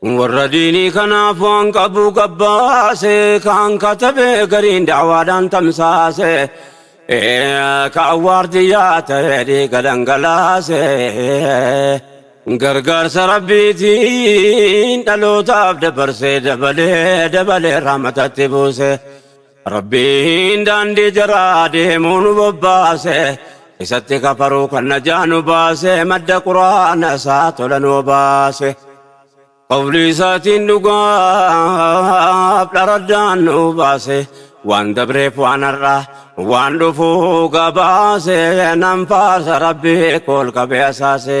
Warra diinii kanaaf waan qabu gabbaase, kaan katabe gariin da'awaadhaan tamsaase, ka awwaardiyyaa ta'e dhiiga dhangalaase. Gargaarsa Rabbiitiin dhalootaaf dabarsee dabalee dabalee rahmatatti buuse. Rabbiin daandii jaraa deemuu nu bobbaase Isatti kafaruu kan najaa nu baase Madda quraana isaa tola nu obaase Qawlii isaatiin dhugaaf dharaddaan nu baase Waan dabreef waan har'aa waan dhufuu gabaase Nan faarsa Rabbii kool qabee asaase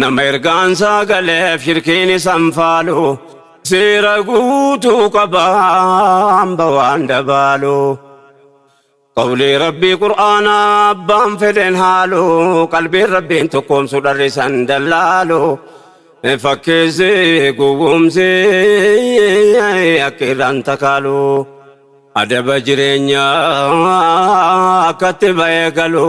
Nama ergaansaa galeef shirkiin isan faalu seera guutuu qaba hamba waan dabaalu. Qawlii rabbii qur'aanaa abbaan fedhen haalu qalbiin rabbiin tokkoomsu dharrisan dallaalu. Fakkeessi gowwoomsi akka irraan takaalu. Adaba jireenyaa akkatti ba'ee galu.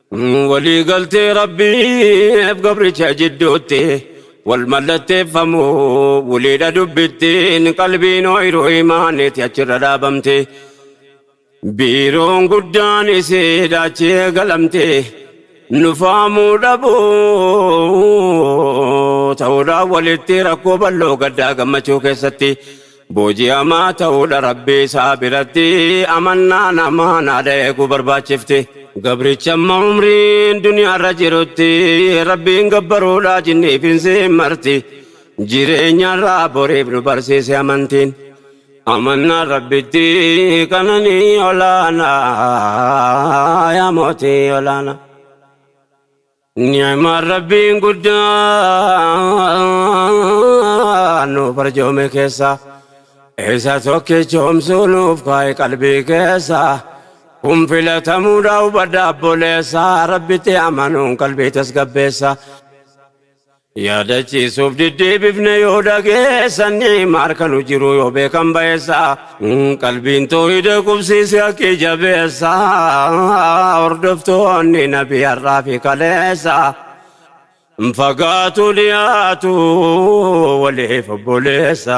Walii galtee Rabbiif gabricha jidduutti wal mallatteeffamu waliidha dubbittiin qalbiin ooyiruu imaaniiti achirra dhaabamte. Biiroon guddaan isiidha achi eegalamte. Nufaamuu dhabuu ta'uudhaan walitti rakkoo bal'oo gaddaa gammachuu keessatti Booji'amaa ta'uudha Rabbii isaa biratti amannaa namaan haadha eeguu barbaachifti. Gabrichi amma umriin duniyaarra jirutti Rabbiin gabbaruudha jinniif insiin marti. Jireenyarraa boriif nu barsiise amantiin. Amannaan Rabbitti qananii olaanaa yaa mootii olaanaa. Ni'maan Rabbiin guddaan nu barjoome keessa isa tokkichoomsuu nuuf kaa'e qalbii keessa kun filatamuudha hubadha abboleessa rabbitti amanuun qalbii tasgabbeessa Yaadachiisuuf diddeebifne yoo dhageessan maal kan hojjiru yoo beekan bayeessa qalbiin toohida qubsiise akki jabeessa hordoftoonni nabi har'aa fi kaleessa fagaatu dhiyaatu waliif obboleessa.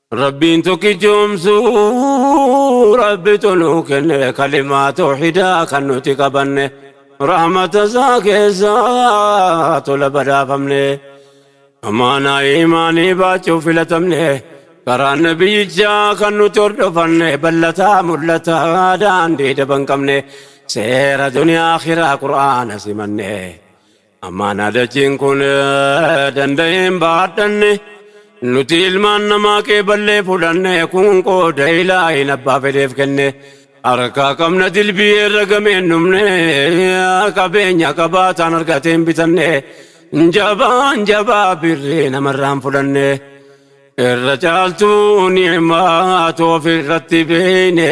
Rabbiin tokkichoomsuu rabbitu nuu kenne kalimaa toohidaa kan nuti qabanne rahmata isaa keessa tola badhaafamne amaanaa imaanii baachuuf filatamne karaa nabiyyichaa kan nuti hordofanne ballataa mul'ataa daandii daban qabne seera duniyaa akiraa qur'aana simanne Ammaana dachiin kun danda'een baadhanne nuti ilmaan namaa qeeballee fudhanne kun qooda ilaahin abbaa fedheef kenne harkaa qabna dilbii irra gameen dhumne qabeenya qabaataan argateen bitanne jabaan jabaa birrii namarraan fudhanne irra caaltuu ni'maa toofi irratti beeyne.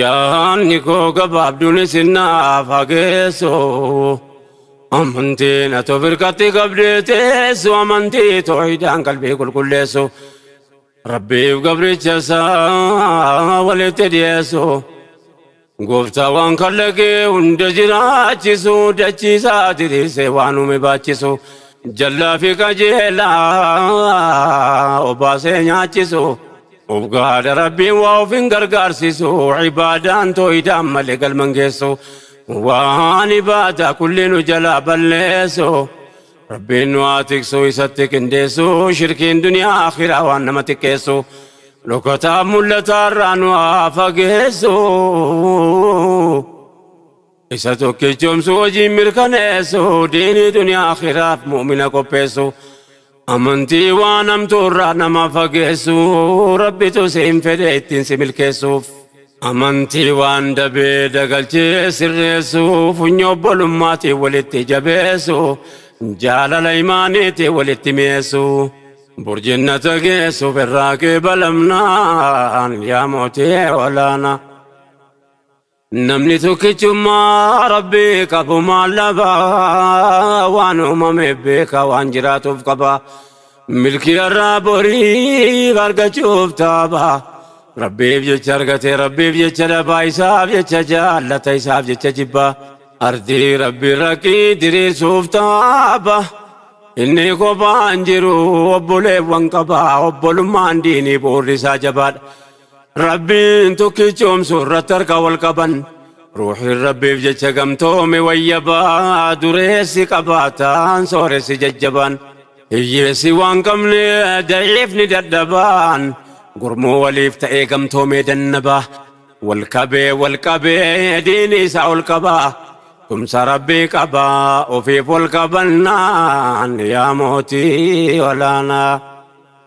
Yaanni koo gabaabduun isin naaf haa geessu. Amantiin ati of irkatti qabdee teessu amantii toohidaan qalbii qulqulleessu. Rabbiif gabricha isaa walitti dhiyeessu. Gooftaa waan kallaqee hunda jiraachisu dachiisaa diriirsee waan uume baachisu. Jallaa fi qajeelaa obaasee nyaachisu. Of gahaadha Rabbiin waa of hin gargaarsisu ibaadaan tooyidaan malee galman geessu waan ibaadaa kulli nu jalaa balleessu Rabbiin nu haa tiksu isatti qindeessu shirkiin duniyaa akhiraa waan nama xiqqeessu dhokataaf mul'ataarraa nu haa fageessu. Isa tokkichoomsu hojiin mirkaneessu diinii duniyaa akhiraaf mu'mina qopheessu amantii waan hamtuurraa nama fageessu rabbitu siin fedhe ittiin si milkeessuuf amantii waan dabee dagalchee sirreessu funyoo obbolummaatiin walitti jabeessu jaalala imaaniitiin walitti mi'eessu burjinnata geessuuf irraa qeebalamnaan yaa mootii olaanaa Namni tokkichummaa rabbii qabu maal dhaba waan uumame beeka waan jiraatuuf qaba milkii irraa boriif argachuuf taaba rabbiif jecha argate rabbiif jecha dhabaa isaaf jecha jaallata isaaf jecha jibba ardii rabbii raqqii diriirsuuf taaba inni kophaan jiru obboleewwan qaba obbolummaan diinii bu'uurri isaa jabaadha Rabbiin tokkichoomsu irratti harka wal qaban. Ruuhiin Rabbiif jecha gamtoome wayyabaa dureessi qabaataan sooressi jajjabaan. Hiyyeessi waan qabne da'iifni dadhabaan. Gurmuu waliif ta'ee gamtoomee dannabaa. Wal qabee wal qabee diini isaa ol qabaa. Tumsa Rabbii qabaa ofiif wal qabannaan yaa mootii olaanaa.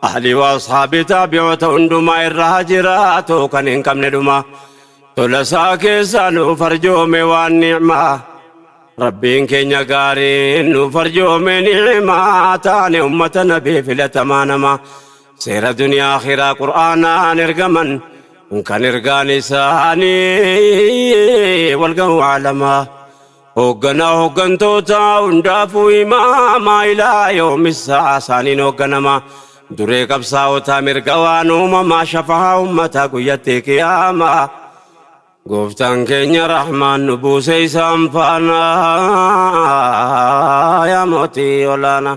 Ahli wa Ashabi Taabi'oota hundumaa irra haa jiraatu kan hin qabne dhuma tola isaa keessaa nuuf arjoome waan ni'maa Rabbiin keenya gaariin nuuf arjoome ni'maa taane ummata nabii filatamaa nama seera duniyaa akhiraa qur'aanaan ergaman kan ergaan isaanii walgahuu alamaa Hoogganaa hooggantoota hundaafuu imaamaa ilaa yoomissaa isaaniin hoogganamaa. Duree qabsaa'otaa mirga waan uumamaa shafahaa ummataa guyyatti qiyaamaa. Gooftaan keenya rahmaan nu buusee isaan faana yaa mootii olaanaa.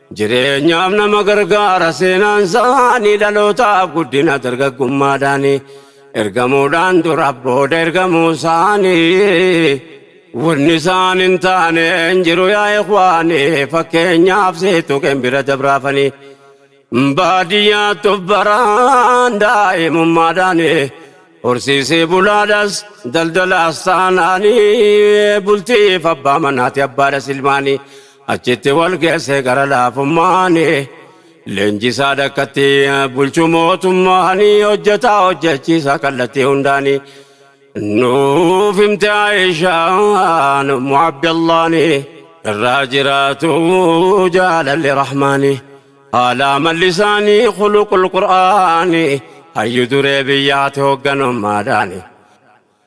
Jireenyaaf nama gargaara seenaan isaanii dhalootaaf guddina dargaggummaadhaani ergamuudhaan dura booda ergamuu isaanii wanni isaan hin taane hin jiru yaa ikwaani fakkeenyaaf seetu kan bira dabraafanii baadiyyaattu baraan daa'imummaadhaani horsiisee bulaadhas daldalaas taanaanii bultiif abbaa manaati abbaadhas ilmaanii Achitti wal geesse gara laafummaan Leenjisaa dakkatti bulchu mootummaan Hojjetaa hojjechiisaa kallattii hundaan Nuuf himte Aayishaan ummu Abdallaan Irraa jiraatu jaalalli rahmaani Haala amalli isaanii khuluqul qur'aani Hayyu duree biyyaati hogganummaadhaani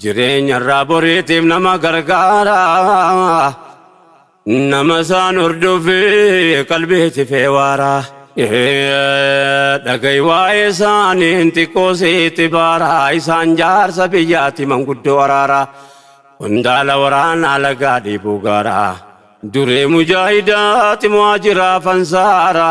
Jireenya irraa boriitiif nama gargaara. Nama isaan hordofi qalbiiti feewaara. Ee, Dhaga'i waa'ee isaaniin xiqqoo sitti baara. Isaan jaarsa biyyaati manguddoo waraara. Qondaala waraanaa lagaa dhiibuu gaara. Duree mujaahidaati muhaajiraa fansaara.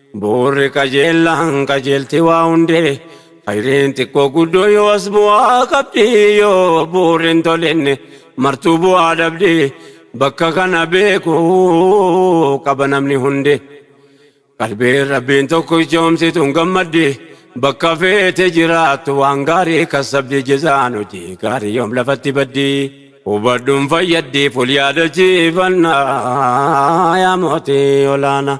Bu'uurri qajeellaan qajeelti waa hundee Khayriin xiqqoo guddoo yoo as bu'aa qabdi Yoo bu'uurri hin tolinne martuu bu'aa dhabdi Bakka kana beeku qaba namni hundi Qalbiin Rabbiin tokko ichoomsituun gammaddi Bakka feete jiraattu waan gaarii kassabdi Jezaan hojii gaarii yoom lafatti baddi Hubadhuun fayyaddiif wal yaadachiifannaa Yaa mootii olaanaa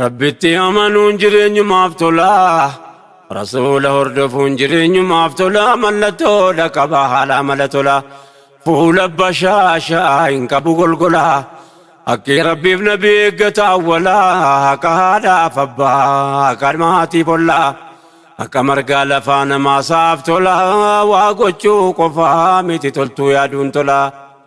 Rabbitti amanuun jireenyumaaf tola. Rasuula hordofuun jireenyumaaf tola. Mallattoodha qaba haala amala tola. Fuula bashaashaa hin qabu golgola. Haqqii Rabbiif nabi eeggata awwala. Haqa haadhaaf abbaa, haqa maatiif olla. Haqa margaa lafaa namaasaaf tola. Waa gochuu qofaa miti toltuu yaaduun tola.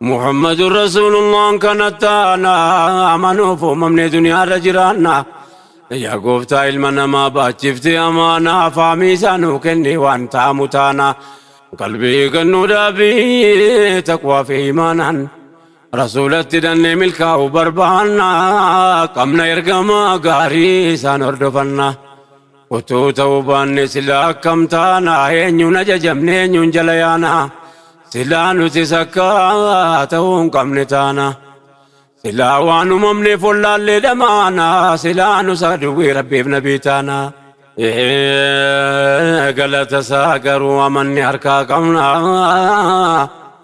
Muhammadun Rasuulullaan kanatti aanaa amanuuf uumamnee duniyaa irra jiraanna. Yaa gooftaa ilma namaa baachiftee amaanaa faamii isaa nuu kenni waan taamu taana. Qalbii kennuu dhaabii taqwaa fi imaanaan. Rasuulatti hidhannee milkaa'uu barbaanna. Qabna ergamaa gaarii isaan hordofanna. Utuu ta'uu baanne silaa akkam taana? Eenyuun ajajamne eenyuun jala yaana? Silaa nutis akka ta'uu hin qabne taana. Silaa waan uumamneef wallaallee dhamaana. Silaa nus aduwwii rabbiif nabii taana. Ee, Galata isaa garuu amanne harkaa qabna.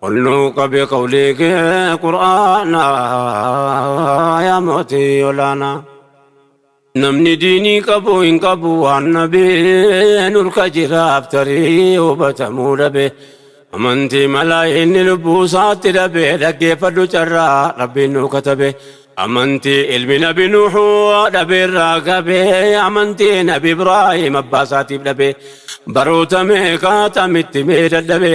Olluu qabe qawlii kee qur'aana yaa mootii olaana. Namni diinii qabu hin qabu waan nabee nurka jiraaf tarii hubatamuu dhabe. Amantii malaa inni lubbuu isaatti dhabe dhaggeeffadhu carraa rabbiin nu katabe. Amantii ilmi nabi nuuhu dhabe irraa gabe amantii nabi Ibraahim abbaa isaatiif dhabe. Baroota meeqaa tamitti mee dadhabe.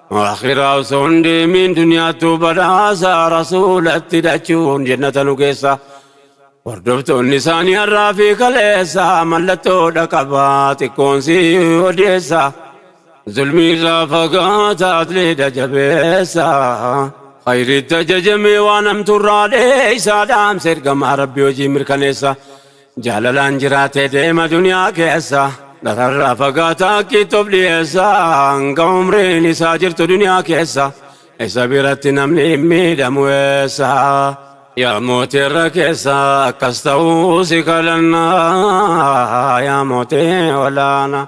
Akhiraa osoo hin deemiin duniyaattuu badhaasa rasuulatti dhachuun jennata nu geessa. Hordoftoonni isaanii har'aa fi kaleessa mallattoodha qaba xiqqoon si odeessa. Zulmii irraa fagaata atleedha jabeessa. Khayriitti ajajamee waan hamtuurraa dheessa dhaamsa ergamaa rabbi hojii mirkaneessa. Jaalalaan jiraatee deema duniyaa keessa Dhararraa fagaata akkiitti of dhiyeessa Hanga umriin isaa jirtu duniyaa keessa Isa biratti namni hin miidhamu eessa Yaa mootii irra keessa akkas ta'uu si kadhanna Yaa mootii olaanaa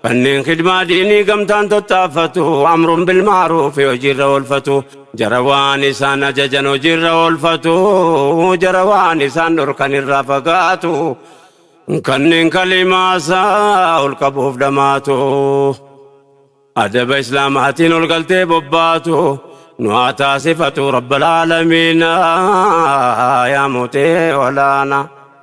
Kanneen khidmaa diinii gamtaan tattaaffatu, amrun bil ma'ruufi hojiirra oolfatu, jara waan isaan ajajan hojiirra oolfatu, jara waan isaan dhorkan irraa fagaatu, kanneen kalimaa isaa ol qabuuf dhamaatu, adaba Islaamaatiin ol galtee bobbaatu, nu haa taasifatu Rabbal Aalamiina yaa Murtee Olaanaa.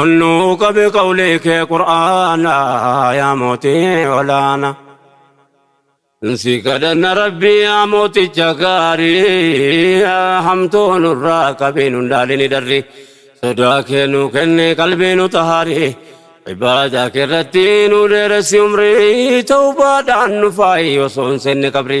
Onnuu qabi qawlii kee qur'aana yaa mootii olaana. Si kadhanna rabbii yaa mooticha gaarii hamtuu nurraa qabii nun daalini darri sodaa kee nuu kenni qalbii nu tahaari ibaadaa kee irratti nu dheeressi umrii tawbaadhaan nu faayi osoo hin seenne qabri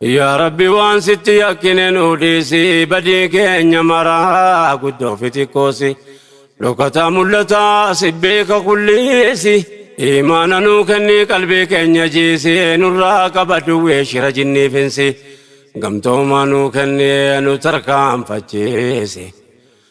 Yaa Rabbi waan sitti yakkine nuu dhiisi badii keenya maraa guddoo fi xiqqoosi dhokataa mul'ataa si beeka kulliisi imaana nuu kenni qalbii keenya jiisi nurraa qaba duwwee shira jinnii finsi gamtoomaa nuu kenni nu tarkaanfachiisi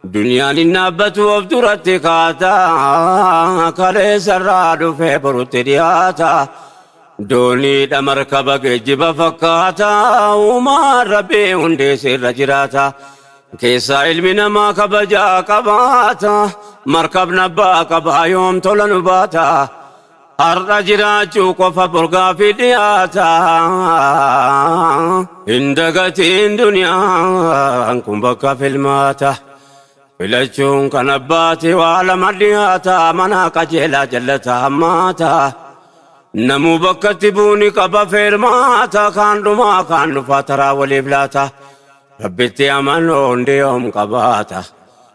Duniyaan hin dhaabbattu of duratti kaata, kaleessa irraa dhufee borutti dhiyaata. Dooniidha markaba geejjiba fakkaata, uumaan Rabbii hundee siirra jiraata. Keessaa ilmi namaa kabajaa qabaata, markabni abbaa qabaa yoom tola nu baata. Har'a jiraachuu qofa bor gaaffii dhiyaata. Hin dagatiin duniyaan kun bakka filmaata. Filachuun kan abbaati waa lama dhiyaata. Manaa qajeelaa jallata hammaata. Namuu bakkatti buuni qaba feermaata. Kaan dhumaa kaan dhufaa taraa waliif laata. Rabbitti amanoon diyoom qabaata.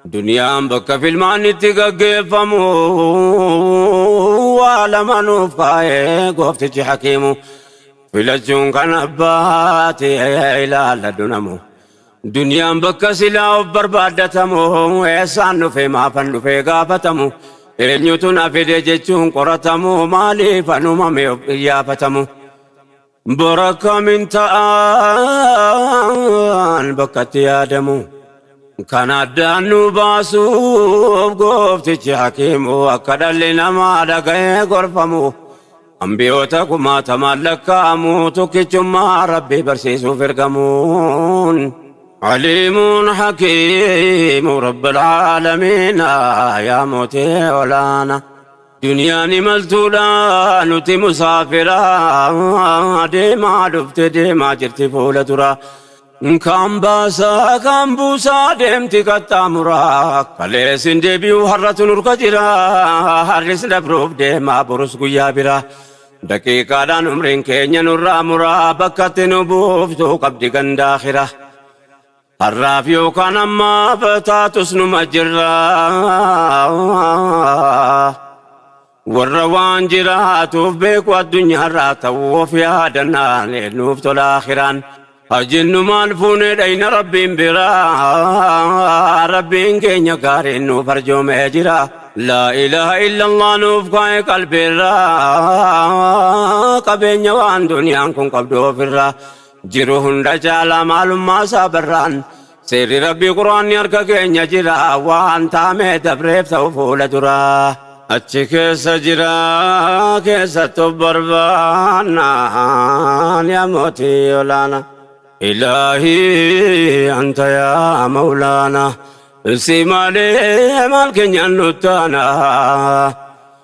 Duniyaan bakka filmaanni itti gaggeeffamu waa lama nuuf kaa'ee gooftichi hakiimu filachuun kan abbaati ilaalla dunamu. Duniyaan bakka silaa of barbaaddatamu eessaan dhufee maafan dhufee gaafatamu eenyutu na fide jechuun qoratamu maaliif anumame of qiyyaafatamu. Bor akkamiin ta'aan bakkatti yaadamu. Kan addaan nu baasuuf gooftichi hakiimu akka dhalli namaa dhaga'ee gorfamu. Ambiyoota kumaatamaan lakkaa'amu tokkichummaa rabbii barsiisuuf ergamuun. Aliimuun hakiimu rabbil aalamiina yaa mootii olaana. Duniyaan imaltuudha nuti musaafira deemaa dhufte deemaa jirti fuula dura. Kaan baasaa kaan buusaa deemti qaxxaamura. Kalees hin deebi'u har'atu nurka jira. Har'is dabruuf deemaa borus guyyaa bira. Daqiiqaadhaan umriin keenya nurraa mura bakkatti nu buuftu qabdi gandaa kira. Har'aaf yookaan ammaaf taatus numa jirra. Warra waan jiraatuuf beeku addunyaarraa ta'u of yaadannaan nuuf tola akhiraan. Haa jennu maal fuunee dhayna rabbiin biraa. Rabbiin keenya gaariin nuuf arjoomee jira. Laa ilaaha illallah nuuf kaa'e qalbiirraa. Qabeenya waan duniyaan kun qabdu ofirraa. Jiru hunda caala maalummaa isaa barraan Seerri Rabbii Qur'aanni harka keenya jira Waan taamee dabreef ta'u fuula duraa Achi keessa jira keessatti of barbaanna Yaa mootii olaana Ilaahii anta yaa mawlaana Si malee maal keenyaan nuttaana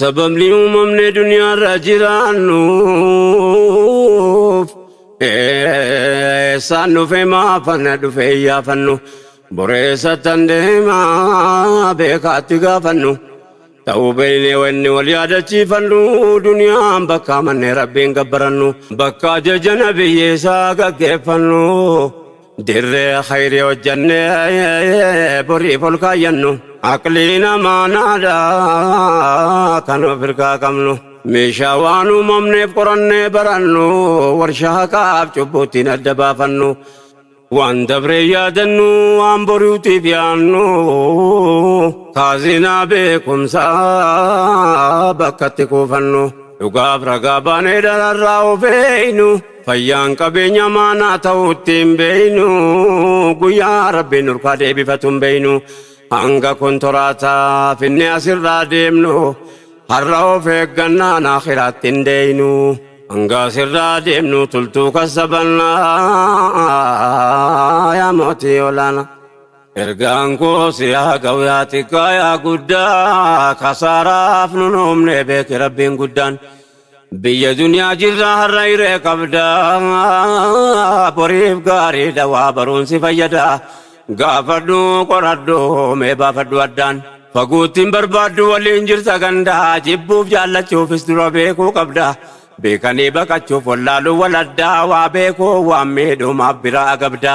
Sababni uumamne duniyaarra jiraannuuf eessaan dhufe maafana dhufe iyyaafannu boreessattan deemaa beekaatti gaafannu ta'uu beeynee wanni wal yaadachiifannu duniyaan bakka manne rabbiin gabbarannu bakka ajaja nabiyyeessaa gaggeeffannu Dirree khayrii hojjannee boriif ol kaayyannu. Aqliin amaanaadha kan of hirkaa qabnu. Meeshaa waan uumamneef qorannee barannu. Warshaa haqaaf cubbuuttiin adda baafannu. Waan dabree yaadannu waan boriitiif yaannu. Kaazinaa beekumsaa bakkatti kuufannu. Dhugaaf ragaa baanee dhararraa of eeynu. Fayyaan qabeenya maanaa ta'uu ittiin beeynu guyyaa rabbiin nurkaa deebifatu hin beeynu hanga kontoraataa finne asirraa deemnu har'a of eeggannaan akhiraatti hin deeynu hanga asirraa deemnu tultuu kassabannaa yaa mootii olaanaa. Ergaan koo si haa ga'u yaa xiqqaa yaa guddaa kasaaraaf nun uumne beeki rabbiin guddaan. Biyya duniyaa jirra har'a hiree qabda boriif gaariidha waa baruun si fayyada gaafadhu qoradhu mee baafadhu addaan faguuttiin barbaaddu waliin jirta ganda jibbuuf jaallachuufis dura beekuu qabda beekanii baqachuuf wallaaluu wal addaa waa beekuu waan miidhumaaf biraa agabda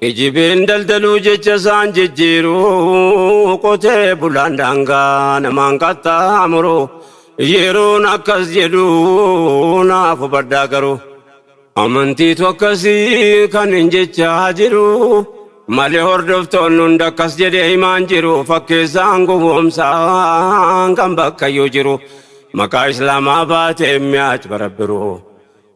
Kijibin daldaluu jecha isaan jijjiiruu qotee bulaan daangaa namaan qaxxaamuru yeroon akkas jedhu naaf hubadhaa garuu amantiitu akkasii kan hin jechaa jiru malee hordoftoonni hunda akkas jedhee himaan jiru fakkeessaan gowwoomsaan kan bakkayyuu jiru maqaa islaamaa baatee mi'aaj barabbiruu.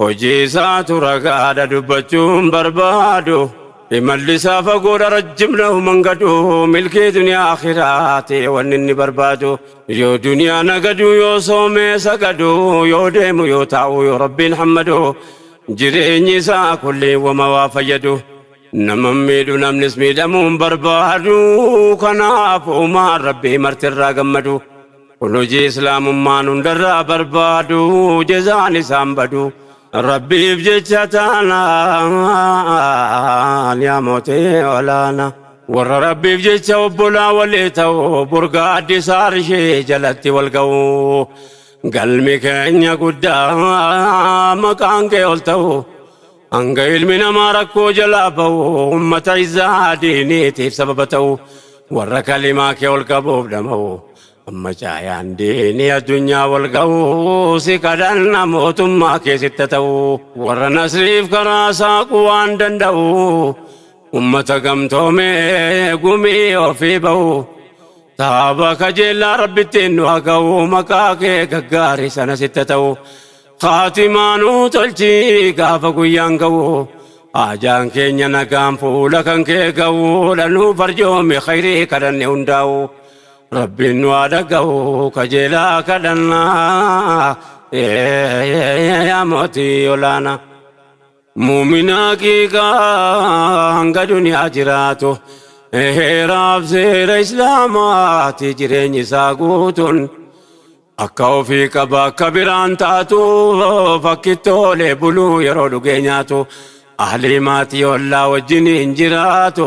Hojiisaatu ragaadha dubbachuun barbaadu Imallisaa fagoodha rajjim nahuman gadu Milkii duniyaa akhiraati wanni inni barbaadu Yoo duniyaa nagadu yoo soomee sagadu Yoo deemu yoo taa'u yoo rabbiin hammadu Jireenyi isaa kulliin wama waa fayyadu Naman miidhu namnis miidhamuun barbaadu Kanaaf uumaan rabbii marti irraa gammadu Kun hojii Islaamummaan hundarraa barbaadu, jazaan isaan badu. Rabbiif jecha taanaan yaa mootee olaana. Warra Rabbiif jecha obbolaa walii ta'u, burgaa addisaa arshii jalatti wal ga'u. Galmi keenya guddaa maqaan kee ol ta'u. Hanga ilmi namaa rakkoo jalaa ba'u ummata isaa diiniitiif sababa ta'u warra kalimaa kee ol qabuuf dhama'u amma caayaan diinii addunyaa wal ga'u si kadhanna mootummaa kee sitta ta'u warra nasriif karaa saaqu waan danda'u ummata gamtoomee gumii ofii ba'u taaba kajeellaa rabbittiin nu haga'u maqaa kee gaggaarii sana sitta ta'u Khaatimaa nuu tolchi gaafa guyyaan ga'u Haajaan keenya nagaan fuula kan kee ga'uudha Nuu farjoomi khayrii kadhanne hundaa'u Rabbiin nu haa dhaga'u kajeelaa kadhannaa Yaa mootii olaanaa Mu'mina haqiiqaa hanga duniyaa jiraatu Heeraaf seera Islaamaati jireenyi isaa guutuun Akka ofii qaba akka biraan taatu Fakkittoolee buluu yeroo dhugee nyaatu Ahlii maatii ollaa wajjiniin jiraatu